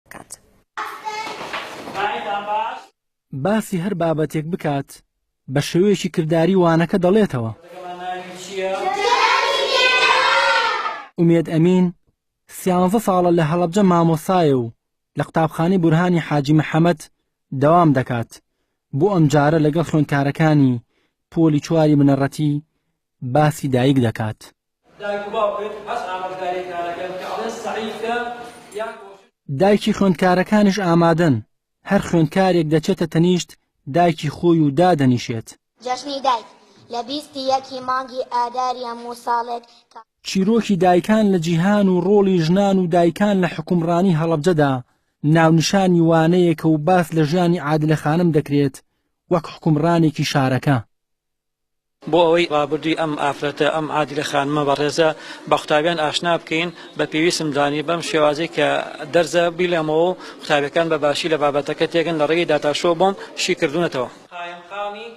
بکات. باسی هەر بابەتێک بکات بە شێوەیەکی کرداری وانەکە دەڵێتەوە. ئومێد ئەمین سیانزە ساڵە لە هەڵەبجە مامۆسایە و لە قوتابخانەی بورهانی حاجی محەمەد دەوام دەکات بۆ ئەم جارە لەگەڵ خوێندکارەکانی پۆلی چواری بنەڕەتی باسی دایک دەکات. دایک و باوکت هەس ئامۆژگاریەکانەکەن کە ئەڵێن سەعی بکە یان کۆشش. دایکی خوێندکارەکانیش ئامادەن، هەر خوێندکارێک دەچێتە تەنیشت دایکی خۆی و دادەنیشێت. جەژنی دایک لە بیست ی یەک ی مانگی ئاداری هەموو ساڵێک کە. چیرۆکی دایکان لە جیهان و ڕۆڵی ژنان و دایکان لە حوکمڕانی هەڵەبجەدا ناونیشانی وانەیەکە و باس لە ژیانی عادلە خانم دەکرێت وەک حوکمڕانێکی شارەکە. بۆ ئەوەی ڕابردووی ئەم ئافرەتە، ئەم عادیلە خانمە بەڕێزە بە قوتابیان ئاشنا بکەین، بە پێویستم زانی بەم شێوازەی کە دەرزە بیڵێمەوە و قوتابیەکان بە باشی لە بابەتەکە تێگەن لە ڕێگەی داتا شۆ بۆم شی کردوونەتەوە. قایمقامی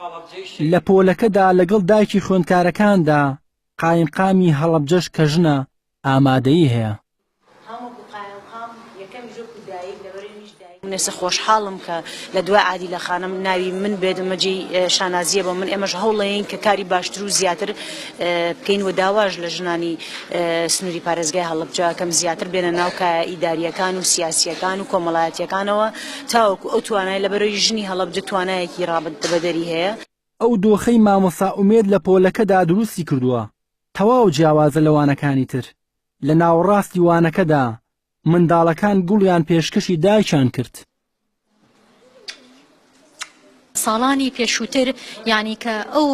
هەڵەبجەی شەهید. لە پۆلەکەدا لەگەڵ دایکی خوێندکارەکاندا قایمقامی هەڵەبجەش کە ژنە ئامادەیی هەیە. منێسە خۆشحاڵم کە لە دوای عادیلە خانم ناوی من بێت ئەمە جێی شانازیە بۆ من ئێمەش هەوڵەیەین کە کاری باشتر و زیاتر بکەین و داواش لە ژنانی سنوری پارێزگای هەڵەبجە ئەکەم زیاتر بێنە ناو کایە ئیداریەکان و سیاسیەکان و کۆمەڵایەتیەکانەوە تاوەکو ئەو توانای لەبەرەوەی ژنی هەڵەبجە توانایەکی ڕابردە بەدەری هەیە ئەو دۆخەی مامۆستا ئومێد لە پۆلەکەدا دروستی کردووە تەواو جیاوازە لە وانەکانی تر، لە ناوەڕاستی وانەکەدا منداڵەکان گوڵیان پێشکەشی دایکیان کرد. ساڵانی پێشووتر یانی کە ئەو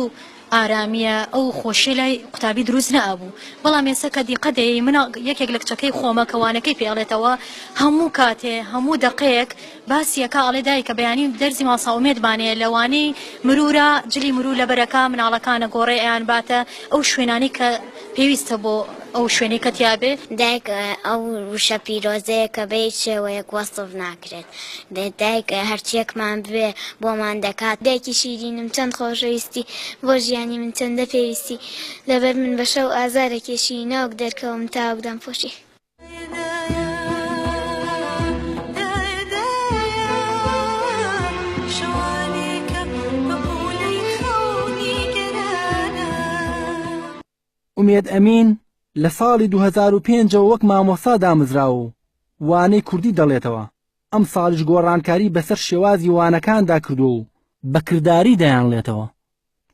ئارامییە ئەو خۆشیە لای قوتابی دروست نەئەبوو، بەڵام ئێستا کە دیقەت دەیەی مناڵ یەکێک لە کچەکەی خۆمە کە وانەکەی پێ ئەڵێتەوە هەموو کاتێ هەموو دەقەیەک، باسی ئەکا ئەڵێ دایکە بەیانی دەرزی ماڵسا ئومێد بانەیە لە وانەی مرورا جلی مرور لەبەر ئەکا مناڵەکانە گۆڕێ ئەیان باتە ئەو شوێنانەی کە پێویستە بۆ ئەو شوێنەی کە تیا بێ. دایک ئەو وشە پیرۆزەیە کە بە هیچ شێوەیەک وەسف ناکرێت دایک هەرچیەکمان بوێ بۆمان دەکات. دایکی شیرینم چەند خۆشەویستی بۆ ژیانی من چەندە پێویستی لەبەر من بە شەو ئازارەکێشی ناوک دەرکەوم تاوک دەمپۆشی. ئومێد ئەمین لە ساڵی 2005 ەوە وەک مامۆستا دامزراوە و وانەی کوردی دەڵێتەوە، ئەمساڵیش گۆڕانکاری بەسەر شێوازی وانەکاندا کردووە و بە کرداری دەیانڵێتەوە،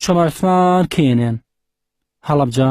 چەمە عوسمان کێنێن هەڵەبجە؟